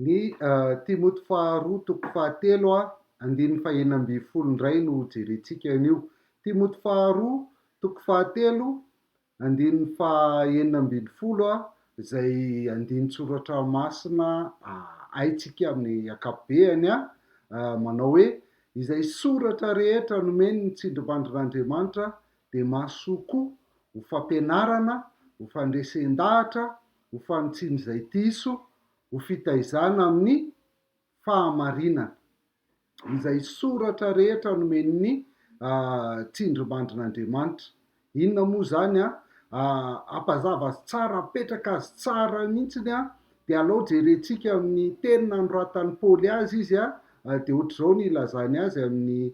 Ny Timoty faharoa toko fahatelo a, andininy fahenina ambin'ny folo indray no hojerentsika an'io. Timoty faharoa toko fahatelo, andininy fahenina ambin'ny folo a, izay andinin-tsoratra masina haintsika amin'ny ankapobeany a, manao hoe, Izay soratra rehetra nomeny ny tsindrimandrin'Andriamanitra dia mahasoa koa ho fampianarana, ho fandresen-dahatra, ho fanitsiana izay diso, ho fitaizana amin'ny fahamarinana. Izay soratra rehetra nomen'ny tsindrimandrin'Andriamanitra. Inona moa izany an? Hampazava azy tsara, hapetraka azy tsara mihitsy an, dia alao jerentsika amin'ny teny nanoratan'i Paoly azy izy an, dia ohatr'izao ny ilazany azy amin'ny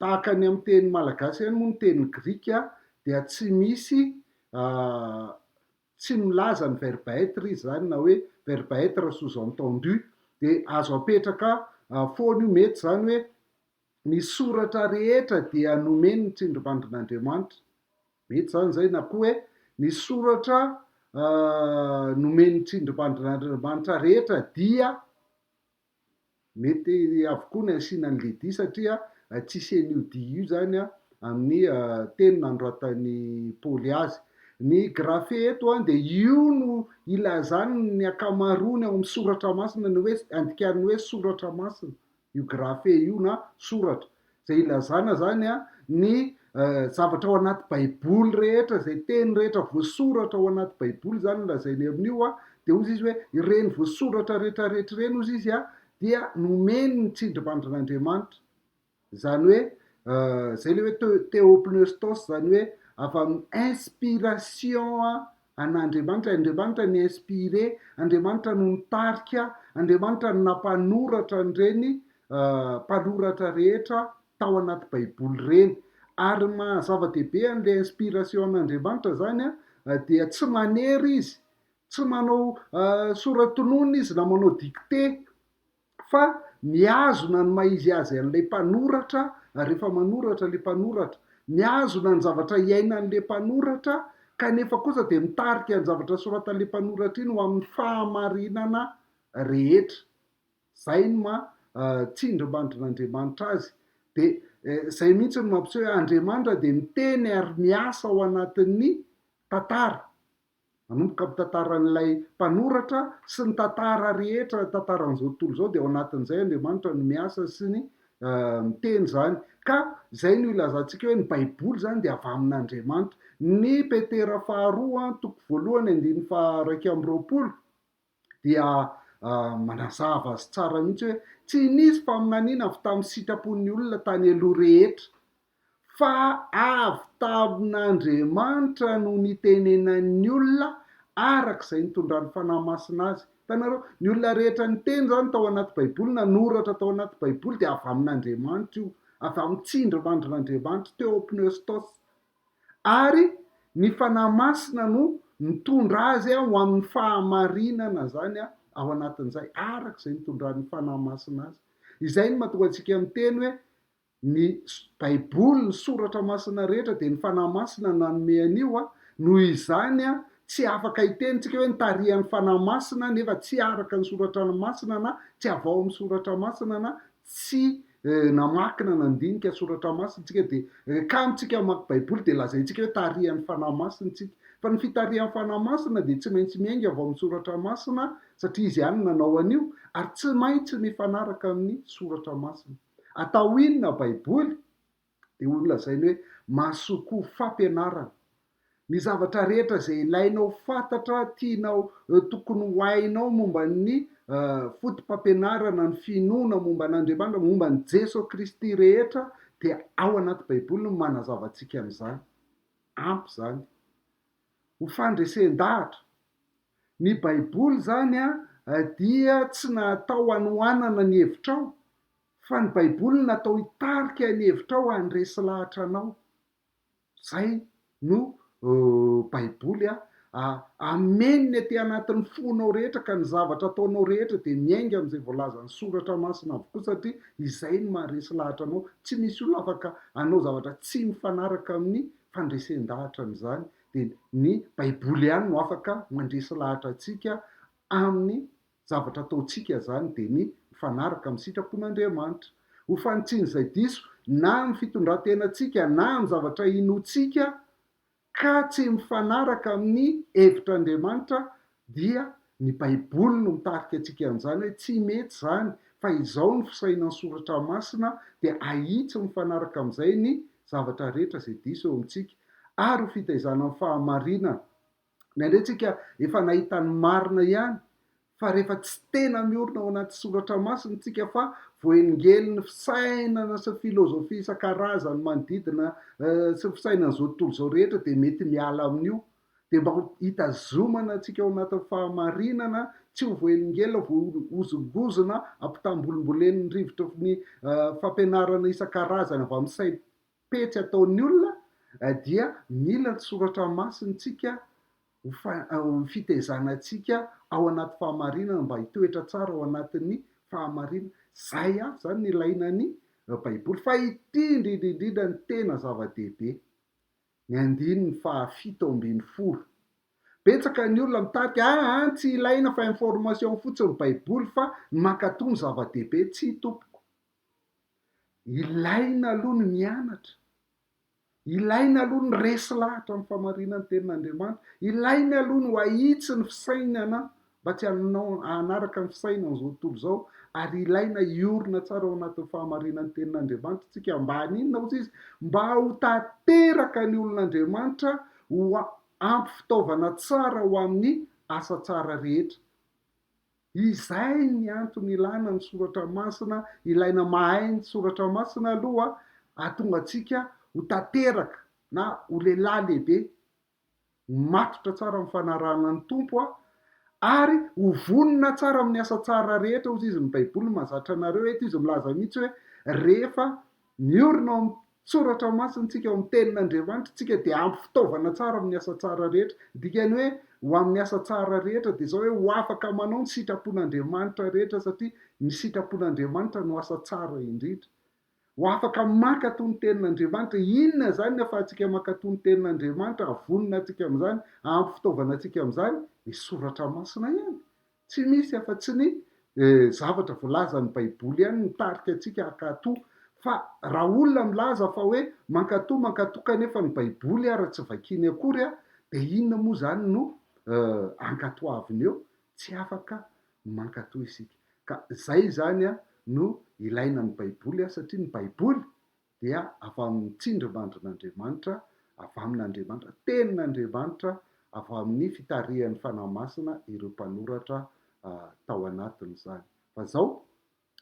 Tahaka ny amin'ny teny malagasy ihany moa ny teny grika dia tsy misy tsy milaza ny verbe être izy izany na hoe verbe être sous entendu dia azo apetraka foana io mety izany hoe ny soratra rehetra dia nomeny ny tsindrimandrin'Andriamanitra, mety izany izay na koa hoe ny soratra nomeny ny tsindrimandrin'Andriamanitra rehetra dia Mety avokoa ny asiana ny lidi satria tsy hisian' io dia io izany amin' ny teny nanoratan'i Paoly azy. Ny grafe eto dia io no ilazan' ny ankamaroany ao amin'ny Soratra Masina ny hoe andikan'ny hoe soratra masina io grafe io na soratra. izay ilazana izany an, ny zavatra ao anaty baiboly rehetra, izay teny rehetra voasoratra ao anaty baiboly izany no lazainy amin'io an, dia hozy izy hoe ireny voasoratra rehetra rehetra ireny hozy izy an, dia nomeny ny tsindrimandrin'Andriamanitra, izany hoe izay ilay hoe theopneustos, izany hoe avy amin'ny inspiration An' Andriamanitra, Andriamanitra ni inspire, Andriamanitra no nitarika, Andriamanitra no nampanoratra an'ireny mpanoratra rehetra tao anaty baiboly ireny. Ary ny maha zava-dehibe an'ilay inspiration an' Andriamanitra izany dia tsy manery izy, tsy manao sora-tonony izy na manao dictée, fa mihazona ny maha izy azy an'ilay mpanoratra rehefa manoratra ilay mpanoratra, mihazona ny zavatra iainan'ilay mpanoratra kanefa kosa dia mitarika ny zavatra soratan'ilay mpanoratra iny ho amin'ny fahamarinana rehetra. Izay no maha tsindrimandrin'Andriamanitra azy. Dia izay mihitsy no mampiseho hoe Andriamanitra dia miteny ary miasa ao anatin'ny tantara. Manomboka amin'ny tantaran'ilay mpanoratra sy ny tantara rehetra tantaran'izao tontolo izao dia ao anatin'izay Andriamanitra no miasa sy ny miteny izany ka izay no ilazantsika hoe ny baiboly izany dia avy amin'Andriamanitra. Ny Petera faharoa toko voalohany andininy faha iraika amby roapolo dia manazava azy tsara mihitsy hoe tsy nisy faminaniana avy tamin'ny sitrapon'ny olona tany aloha rehetra, fa avy tamin'Andriamanitra no nitenenan'ny olona araka izay nitondran'ny Fanahy Masina azy. Hitanareo? Ny olona rehetra niteny izany tao anaty Baiboly, nanoratra tao anaty Baiboly dia avy amin'Andriamanitra io, avy amin'ny tsindrimandrin'Andriamanitra teo ao Pneustos. ary ny Fanahy Masina no mitondra azy ho amin'ny fahamarinana izany ao anatin'izay, araka izay nitondran'ny Fanahy Masina azy. Izay no mahatonga antsika miteny hoe ny Baiboly, ny Soratra Masina rehetra dia ny Fanahy Masina nanome an'io, noho izany tsy afaka hiteny isika hoe nitarihan'ny Fanahy Masina nefa tsy araka ny Soratra Masina na tsy avy ao amin'ny Soratra Masina na tsy namaky na nandinika soratra masina isika dia rehefa isika mamaky baiboly dia lazaintsika hoe tarihan'ny fanahy masina isika fa ny fitarihan'ny fanahy masina dia tsy maintsy miainga avy ao amin'ny soratra masina satria izy ihany no nanao an'io ary tsy maintsy mifanaraka amin'ny soratra masina atao inona baiboly Dia holazainy hoe, Mahasoa koa fampianarana. Ny zavatra rehetra izay ilainao fantatra, tianao, tokony ho hainao momba ny fotopampianarana, ny finoana momba an'Andriamanitra, momba an'i Jeso Kristy rehetra dia ao anaty Baiboly no manazava antsika an'izany. Ampy izany. Ho fandresen-dahatra. Ny Baiboly izany dia tsy natao hanohanana ny hevitrao Fa ny baiboly no natao hitarika ny hevitrao handresy lahatra anao. Zay no baiboly a. Ameny aty anatin'ny fonao rehetra ka ny zavatra ataonao rehetra dia miainga amin'izay voalazan'ny soratra masina avokoa satria izay no maharesy lahatra anao. Tsy misy olona afaka hanao zavatra tsy mifanaraka amin'ny fandresen-dahatrany izany. Dia ny baiboly ihany no afaka mandresy lahatra antsika amin'ny Zavatra ataontsika izany dia ny mifanaraka amin'ny sitrapon'Andriamanitra. Ho fanitsian'izay diso na amin'ny fitondran-tenantsika na amin'ny zavatra inoantsika ka tsy mifanaraka amin'ny hevitr'Andriamanitra dia ny Baiboly no mitarika antsika an'izany hoe tsy mety izany fa izao no fisainan'ny Soratra Masina dia ahitsy mifanaraka amin'izay ny zavatra rehetra izay diso eo amintsika ary ho fitaizana amin'ny fahamarinana Ny andraitsika efa nahita ny marina ihany fa rehefa tsy tena miorina ao anaty soratra masina isika fa voaengelin'ny fisainana sy filozofia isan-karazany manodidina sy fisainan'izao tontolo izao rehetra dia mety miala amin'io dia mba hitazomana antsika ao anatin'ny fahamarinana tsy ho voaelingelina, voahozongozona, ampitambolimbolenin'ny rivotry ny fampianarana isan-karazany avy amin'ny saina. pejy ataon'ny olona dia mila ny soratra masintsika ho fitaizanantsika ao anaty fahamarinana mba hitoetra tsara ao anatin'ny fahamarinana. Izay avy izany no ilaina ny Baiboly. Fa ity indrindra indrindra no tena zava-dehibe, ny andininy fahafito ambin'ny folo. Betsaka ny olona mitarika, aa, tsy ilaina fa information fotsiny ny Baiboly fa ny mankatò no zava-dehibe. Tsia tompoko. Ilaina aloha ny mianatra. Ilaina aloha ny resy lahatra amin'ny famarinan'ny tenin'Andriamanitra. Ilaina aloha ny ho ahitsy ny fisainana mba tsy hanaraka ny fisainan'izao tontolo izao ary ilaina hiorina tsara ao anatin'ny fahamarinan'ny tenin'Andriamanitra isika mba haninona hozy izy? Mba ho tanteraka ny olon'Andriamanitra ho ampy fitaovana tsara ho amin'ny asa tsara rehetra. Izay ny antony ilana ny soratra masina, ilaina mahay ny soratra masina aloha ahatonga antsika ho tanteraka na ho lehilahy lehibe matotra tsara amin'ny fanarahana ny Tompo ary ho vonona tsara amin'ny asa tsara rehetra, hozy izy, ny baiboly mahazatra anareo, eto izy milaza mihitsy hoe rehefa Miorina ao amin'ny Soratra Masintsika, ao amin'ny Tenin'Andriamanitra, isika dia ampy fitaovana tsara amin'ny asa tsara rehetra. Ny dikan'ny hoe ho amin'ny asa tsara rehetra dia izao hoe ho afaka manao ny sitrapon'Andriamanitra rehetra satria ny sitrapon'Andriamanitra no asa tsara indrindra. Ho afaka mankato ny Tenin'Andriamanitra. Inona izany ny ahafahantsika mankato ny Tenin'Andriamanitra, ahavonona antsika amin'izany, ahampy fitaovana antsika amin'izany? Ny Soratra Masina ihany. Tsy misy afa-tsy ny zavatra voalazan'ny Baiboly ihany ny mitarika antsika hankatò. Fa raha olona milaza fa hoe mankatò, mankatò kanefa ny Baiboly ary tsy vakiany akory, dia inona moa izany no ankatoaviny eo? Tsy afaka mankatò isika. Ka izay izany no ilaina ny Baiboly, satria ny Baiboly dia avy amin'ny tsindrimandrin'Andriamanitra, avy amin'Andriamanitra, Tenin'Andriamanitra, avy amin'ny fitarihan'ny Fanahy Masina ireo mpanoratra tao anatin'izany. Fa izao,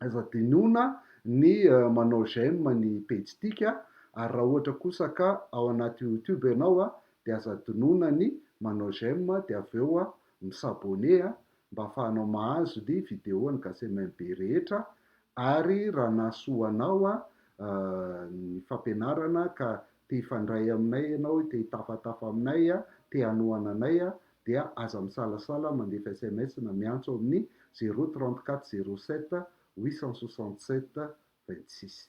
aza dinihoana ny manao j'aime ny pejintsika, ary raha ohatra kosa ka ao anaty YouTube ianao dia aza dinoana ny manao j'aime dia avy eo mi-s'abonner mba afahanao mahazo ny video an'i Gasemimb rehetra ary raha nahasoa anao ny fampianarana ka te hifandray aminay ianao, te hitafatafa aminay, te hanohana anay dia aza misalasala mandefa sms na miantso amin'ny zéro trente-quatre zéro sept huit cent soixante-sept vingt-six.